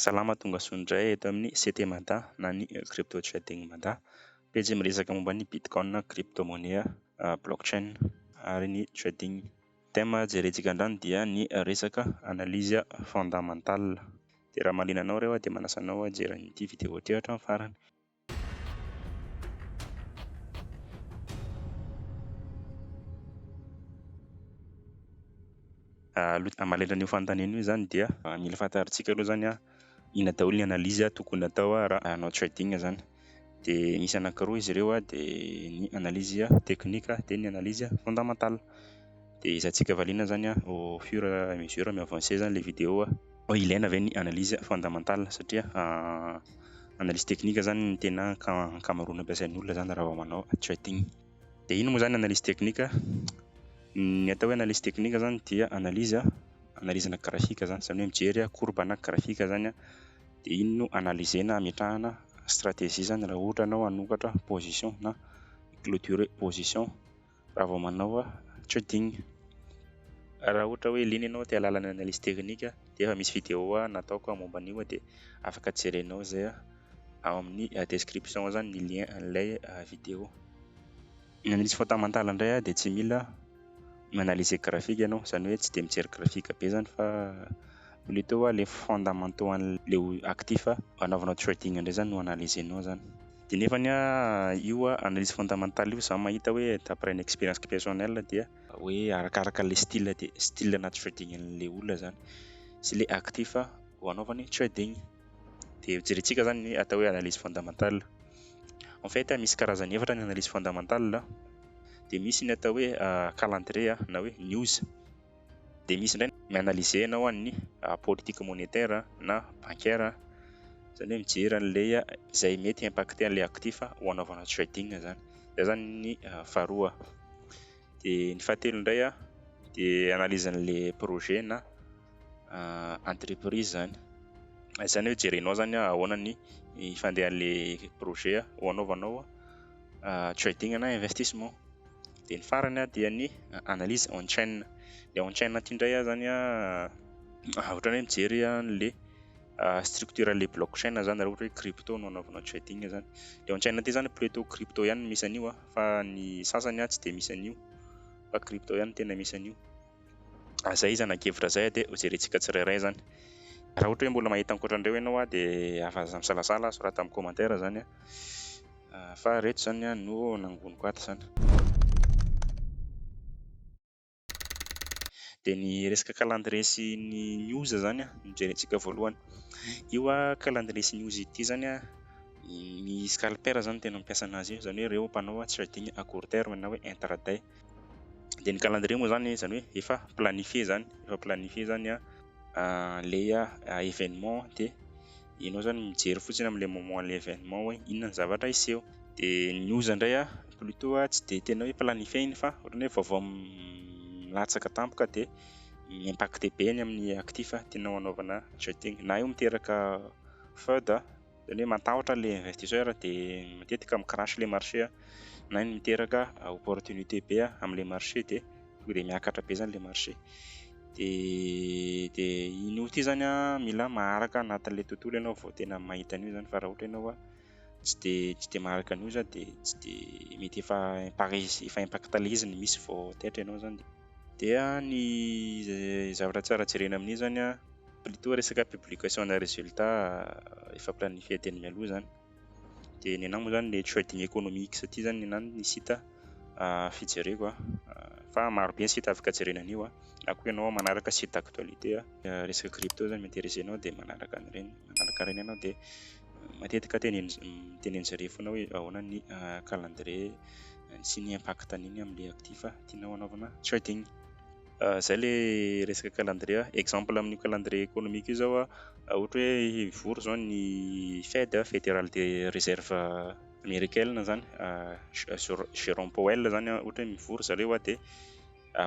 Salama tongasoa indray eto amin'ny CT Mada na ny Crypto Trading Mada. Pejy miresaka momba ny Bitcoin, Crypto Monnaie, Blockchain ary ny Trading. Thème jerentsika andrany dia ny resaka analyse fondamentale. Dia raha mahaliana anao ireo aho dia manasa anao hijery an'ity video ity hatramin'ny farany. Aloha mahalela an'io fanontaniana io zany dia mila fantarintsika aloha zany inona daholo ny analyse tokony atao raha hanao trading zany. Dia misy anankiroa izy ireo dia ny analyse technique dia ny analyse fondamentale. dia hizatsika valiana zany a au fur et à mesure mi avancer zany le video a. Hoe ilaina ve ny analyse fondamental satria analyse technique zany ny tena ankamaroana ampiasain'ny olona zany raha vao manao trading. Dia inona moa zany analyse technique? Ny atao hoe analyse technique zany dia analyse analizina graphique zany, zany hoe mijery courbe na graphique zany a, dia iny no analyser-na ametrahana stratégie zany raha ohatra ianao hanokatra position na hi-cloturer position raha vao manao coding. Raha ohatra hoe liana ianao te hahalala ny analyse technique dia efa misy vidéo nataoko momba an'io dia afaka jerenao izay ao amin'ny description ao zany ny lien an'ilay vidéo. Ny analyse fondamentale indray dia tsy mila mi-analyser graphique ianao izany hoe tsy dia mijery graphique be zany fa plutôt ilay fondamentaux an'ilay actif anaovanao coding indray zany no analysenao zany. De nefany a io a analyse fondamentale io za mahita hoe d'après ny expérience personnelle dia hoe arakaraka le style de style na trading an'le olona zany sy le actif hanaovany trading. De ho jerentsika zany ny atao hoe analyse fondamentale. En fait misy karazany efatra ny analyse fondamentale de misy ny atao hoe calendrier na hoe news. Dia misy indray mi-analyser anao an'ny politique monétaire na bancaire, izany hoe mijery an'ilay izay mety hi-impacter an'ilay actif ho anaovana trading izany. Izay izany ny faharoa. Dia ny fahatelo indray dia analyse an'ilay projet na entreprise izany. Izany hoe jerenao izany ahoana ny fandehan'ilay projet ho anaovanao trading na investissement. Dia ny farany dia ny analyse on chain. Ilay on chain ity indray zany ohatran'ny hoe mijery an'ilay structure an'ilay block chain zany raha ohatra hoe crypto no anaovanao trading zany. Ilay on chain ity zany plutot crypto ihany no misy an'io fa ny sasany tsy dia misy an'io fa crypto ihany no tena misy an'io. Ah zay iza nankevitra zay ah de ho jerentsika tsirairay zany. Raha ohatra hoe mbola mahita ankoatran'ireo ianao ah de aza misalasala ah sorata amin'ny commentaire zany ah fa reto zany ah no nangoniko ato zany. De ny resaka calendrier sy ny news zany ah no jerentsika voalohany. Io ah calendrier sy news ity zany ah ny scalper zany no tena mampiasa anazy io zany hoe ireo mpanao trading à court terme na hoe intraday. dia ny calendrier moa zany izany hoe efa planifier izany efa planifier izany a ilay événement dia ianao izany mijery fotsiny amin'ilay moment ilay événement hoe inona ny zavatra hiseho dia ny oza indray a plutot a tsy dia tena hoe planifier iny fa ohatrany hoe vaovao milatsaka tampoka dia mi-impacter be ny amin'ny actif tianao hanaovana shooting na io miteraka feud a Zany hoe matahotra ilay investisseur dia matetika mi-crash ilay marché na ny miteraka opportunité be amin'ilay marché dia tonga dia miakatra be zany ilay marché. Dia dia iny out iny zany an mila maharaka anatin'ilay tontolo ianao vao tena mahita an'io zany fa raha ohatra ianao tsy dia tsy dia maharaka an'io zany dia tsy dia mety efa impare- efa impacte ilay izy ny misy vao taitra ianao zany. Dia ny zavatra tsara jerena amin'io zany an. Plutôt resaka publication ana résultat efa planifier teny mialoha zany. De ny anah moa zany le trading economics ty zany ny anah ny site fijereko a. Fa maro be ny site afaka jerena an'io a. Na koa ianao manaraka site d'actualité resaka crypto zany mi interesser anao de manaraka an'ireny, manaraka ireny ianao de matetika tenenin- mitenen'izy ireny foana hoe ahoana ny calendrier sy ny impact-n'iny am'le actif tianao hanaovana trading. izay ilay resaka calendrier. Exemple amin'io calendrier économique io izao ohatra hoe hivory izao ny Fed, Federal Reserve Americaine izany, Jerome Powell izany ohatra hoe mivory ry zareo dia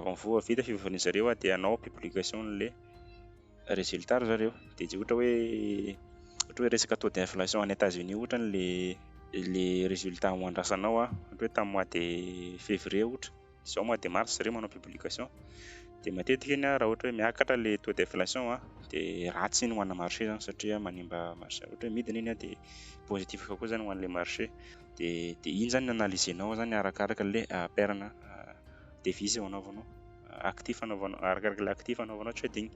vao vita fivoriana ry zareo dia hanao publication an'ilay résultat ry zareo. Dia izay ohatra hoe ohatra hoe resaka taux d'inflation any Etats Unis ohatra ilay ilay résultat ho andrasanao ohatra hoe tamin'ny mois de février ohatra. izao mois de mars re manao publication dia matetika iny raha ohatra hoe miakatra le taux d'inflation a dia ratsy iny ho ana marché zany satria manimba marché ohatra hoe midina iny a dia positif kokoa zany ho an'le marché dia dia iny zany analysenao zany arakaraka le ah, perana ah, devise ho anaovanao ah, actif anaovanao arakaraka le actif anaovanao trading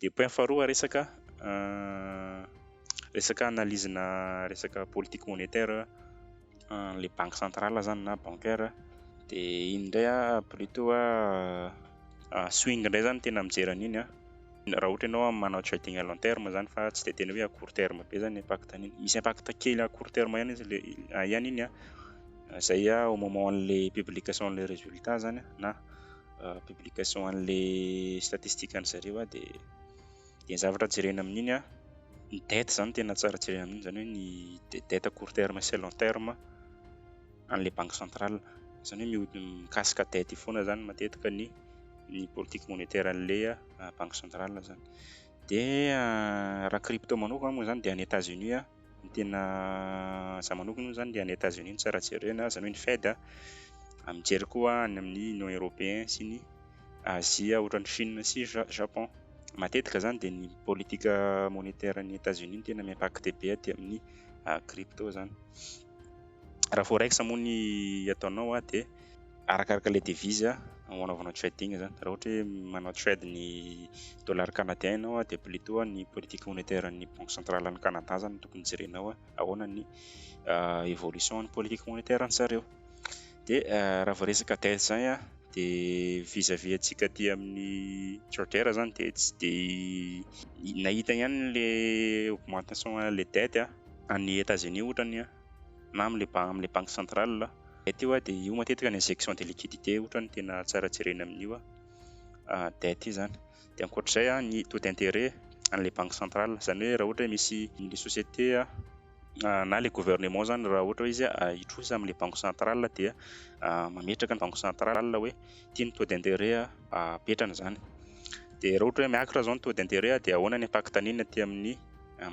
Dia point faharoa resaka resaka analyse-na resaka politique monétaire le banque centrale zany na bancaire de iny ndray ah plutot ah swing ndray zany tena mijery an'iny ah raha ohatra ianao manao trading à long terme zany fa tsy de tena hoe à court terme be zany impact an'iny misy impact kely à court terme ihany izy le ihany iny ah zay ah au moment an'le publication an'le résultat zany ah na publication an'le statistique an'ny zareo a de de ny zavatra jerena amin'iny a ny dette zany tena tsara jerena amin'iny zany hoe ny dette à court terme sy à long terme an'le banque centrale zany hoe miho- mikasika dette io foana zany matetika ny ny politique monétaire an'le banque centrale zany de raha crypto manokana moa zany de any Etats-Unis a Ny tena za manokana moa zany le any Etats Unis no tsara jereo na zany hoe ny Fed a, mijery koa any amin'ny Union Européen sy ny Azia ohatra ny Chine sy Japon. Matetika zany dia ny politika monétaire ny Etats Unis no tena mi-impacter be aty amin'ny crypto zany. Raha forex moa ny ataonao dia. Arakaraka ilay devise ho anaovanao trading izany. Raha ohatra hoe manao trade ny dollars canadiens ianao dia plutôt ny politique monétaire ny banque centrale any Canada izany no tokony jerenao hoe ahoana ny euh, évolution ny politique monétaire any zareo. Dia euh, raha vao resaka dette izany a dia vis-à-vis antsika aty amin'ny trader izany dia tsy dia nahita ihany le augmentation le dette any États-Unis ohatra ny a. na amin'ilay ba- amin'ilay banky centrale aho. Zay teo a, de io matetika ny injection de liquidité ohatra no tena tsara jerena amin'io a, ah, dette io zany. De ankoatr'izay a, ny taux d'intérêt an'ilay banky centrale, zany hoe raha ohatra hoe misy le société a, ah, na le gouvernement zany raha ohatra hoe izy a hitrosa amin'ilay banky centrale dia mametraka ny banky centrale hoe ty ny taux d'intérêt apetrany zany. De raha ohatra hoe miakatra zao ny taux d'intérêt dia ahoana ny impact-ny aty amin'ny.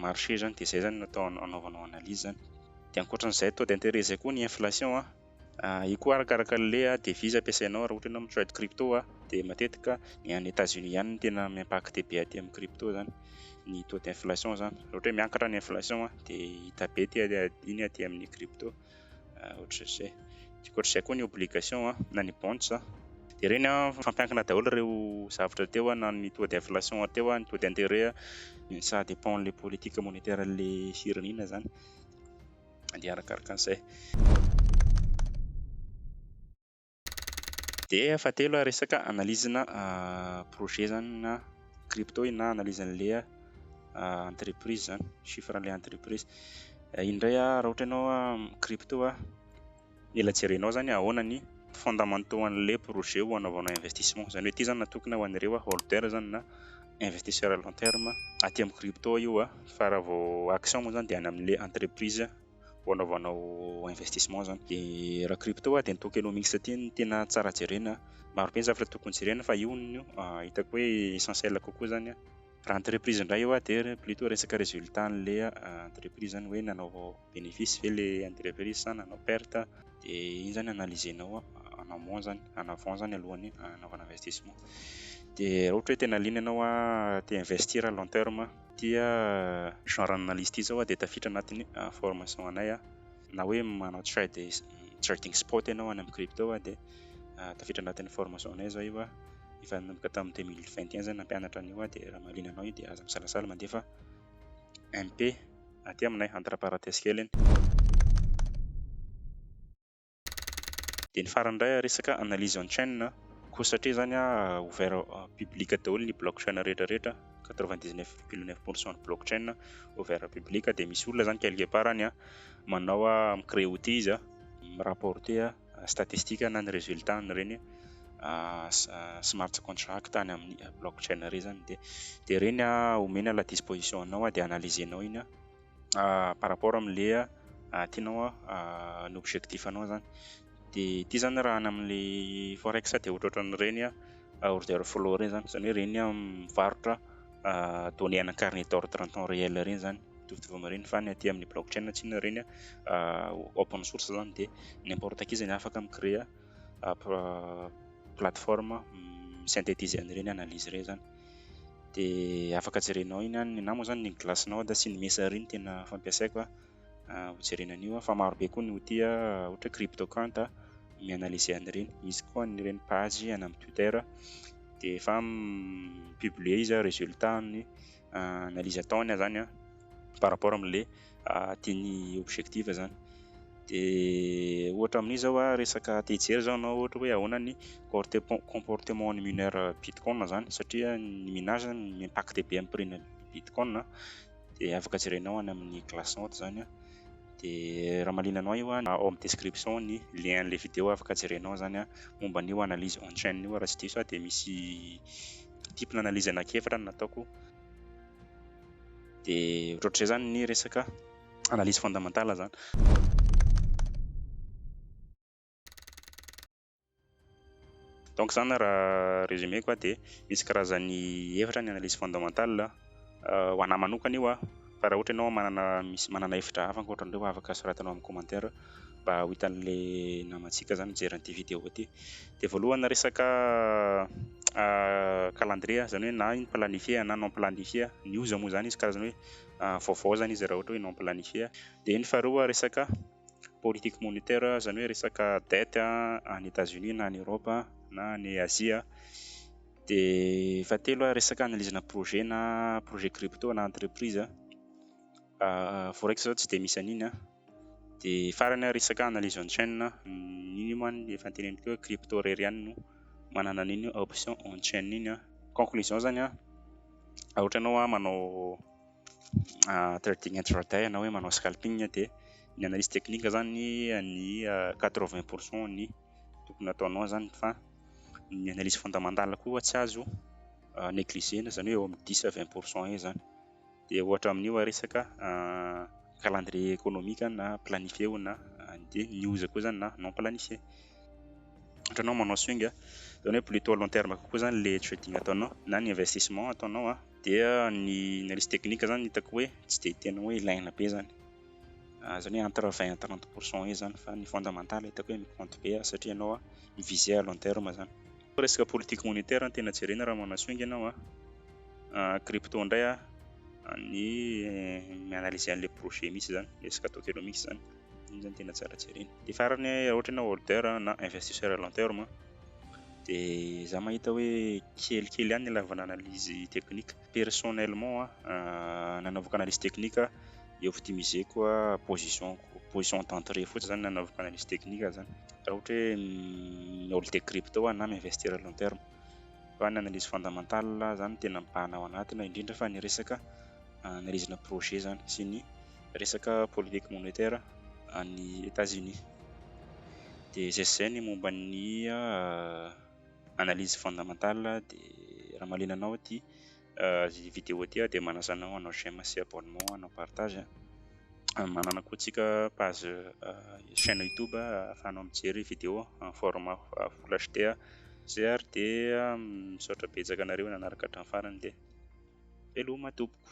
marché izany dia izay izany no atao anaovanao analyse izany. Dia ankoatra an'izay taux d'intérêt izay koa ny inflation a, io koa arakaraka an'le devise ampiasainao raha ohatra ianao mi-trade crypto a, dia matetika ny any Etats Unis ihany no tena mi-impacte be aty amin'ny crypto izany ny taux d'inflation izany. Raha ohatra hoe miakatra ny inflation a dia hita be iny aty amin'ny crypto. ah, ohatry zay tiako ohatry zay koa ny obligation ah, na ny bonds ah. de reny ah, fampiankina daholo ireo zavatra teo ah, na ny taux d'inflation teo ah, ny taux d'intérêt ah, ça dépend le politique monétaire le firenena zany de arakaraka an'izay Dia fahatelo a, resaka analyse-na projet zany na crypto iny na analyse an'le entreprise zany, chiffre an'le entreprise. Iny ndray a, raha ohatra ianao crypto a, mila jerenao zany hoe ahoana ny fondamentaux an'le projet ho anaovanao investissement. Zany hoe ty zany natokona ho an'ireo holder zany na investisseur à long terme aty amin'ny crypto io a, fa raha vao action moa zany dia any amin'le entreprise. vao anaovanao investissement zany de raha crypto a de ny tokenomics ty no tena tsara jerena maro be ny zavatra tokony jerena fa io no hitako hoe essentiel kokoa zany a raha entreprise indray io a de plutot resaka resultat an'le entreprise zany hoe nanao benefice ve le entreprise sa nanao perte de iny zany analysenao en amont zany en avant zany alohan'ny hanaovana investissement de raha ohatra hoe tena liana ianao a te investir long terme. Ity genre analyse ity zao dia tafiditra anatin'ny formation anay na hoe manao trading spot ianao any amin'ny crypto dia tafiditra anatin'ny formation anay zao io efa nanomboka tamin'ny deux mille vingt et un zay nampianatra an'io dia raha mahaliana anao io dia aza misalasala mandefa MP aty aminay entre parenthèses kely iny. Dia ny farany indray resaka analyse on chain a, koa satria izany ouvert public daholo ny block chain rehetra rehetra, quatre vingt dix neuf virgule neuf pour cent ny block chain ouvert public dia misy olona izany quelque part any a manao a mi-creer outil izy a, mi-rapporter statistique na ny resultat an'ireny smart contract any amin'ny block chain ireny izany dia dia ireny omeny à la disposition anao dia analyser-nao iny a. par rapport amin'le tianao ny objectif anao zany de ity zany raha any amin'le forex de ohatrohatran'ireny order flow ireny zany zany hoe ireny mivarotra données ana carnet d'ordre en temps réel ireny zany mitovitovy amin'ireny fa ny aty amin'ny block chain tsy inona ireny open source zany de n'importe qui zany afaka mi créer plateforme mi synthétiser an'ireny analyse ireny zany dia afaka jerenao iny any na moa izany ny glace-nao dia sy ny mesa ery no tena fampiasaiko hojerena an'io fa marobe koa ny outil ohatra cryptocant mi-analyser an'ireny misy koa an'ireny page any amin'ny twitter dia efa mi-publier izy résultat ny analyse ataony zany par rapport amin'ilay tiany hi-objective zany de ohatra amin'izao hoe resaka te hijery zao anao ohatra hoe ahoana ny comportement ny mineur bitcoin zany satria ny minage zany mi-impacte be amin'ny prix-n'ny bitcoin de afaka jerenao any amin'ny glassnode zany an de raha mahaliana anao io an ao amin'ny description ny lien an'ilay video afaka jerenao zany an momba an'io analyse on chain io raha tsy diso aho de misy multiple analyse anak'efatra no nataoko Dia ohatraohatr'izay izany ny resaka analyse fondamentale izany. Donc izany raha résumé ko dia misy karazany efatra ny analyse fondamentale ho anahy manokana io Fa raha ohatra ianao manana misy manana hevitra hafa ankoatra an'ireo afaka soratanao amin'ny commentaire mba ho hitan'ilay namantsika zany mijery an'ity vidéo ity. De voalohany resaka calendrier zany hoe na planifier na non planifier ny oza moa zany izy karazana hoe vaovao zany izy raha ohatra hoe non planifier. De ny faharoa resaka. politique monitaire izany hoe resaka dette any Etats-Unis na any Europe na any Azia, dia fahatelo resaka analyse na projet na projet crypto na entreprise, forex izao tsy dia misy an'iny an! dia farany ary resaka analyse on chain, iny moa ny efa noteneniko teo hoe crypto irery ihany no manana an'iny option on chain iny an! conclusion izany an! raha ohatra ianao manao trading intraday na hoe manao scalping dia ny analyse technique zany ny quatre vingt pour cent ny tokony ataonao zany fa ny analyse fondamentale koa tsy azo négliger zany hoe eo amin'ny dix à vingt pour cent eo zany dia ohatra amin'io resaka calendrier économique na planifier na dia ny news koa zany na non planifier ohatra anao manao swing zany hoe plutôt long terme kokoa zany le trading ataonao na ny investissement ataonao Dia ny analyse technique zany hitako hoe tsy dia tena hoe ilaina be zany. Ah, zany hoe entre vingt à trente pour cent eo zany fa ny fondamental hitako hoe mi-compte be ah, satria ianao ah mi-viser à long terme zany. Fa resaka politique monétaire no tena jerena raha manasio ange ianao ah. Ah, crypto indray ah, ny mi-analyser an'ilay projet mihitsy zany, resaka tokenomics zany. Iny zany tena tsara jerena. Dia farany raha ohatra ianao hoarder na investisseur à long terme dia za mahita hoe kelikely ihany ny ilavana analyse technique. Personnellement an, nanaovako analyse technique aho, i optimiseko position ko, position d'entrée fotsiny zany nanaovako analyse technique aho zany. Raha ohatra hoe mi-holder crypto aho na mi-investir à long terme. Fa ny analyse fondamental zany tena mibahana ao anatiny indrindra fa ny resaka analyse-na projet zany sy ny. resaka politique monetaire any Etats Unis dia izay sy izay ny momba ny analyse fondamentale dia raha mahaliana anao ity vidéo ity aho dia manasa anao hanao j'aime sy abonnement hanao partage manana koa tsika page chaine youtube ahafahanao mijery vidéo en format full HD ary dia misaotra betsaka anareo nanaraka hatramin'ny farany dia. Veloma tompoko.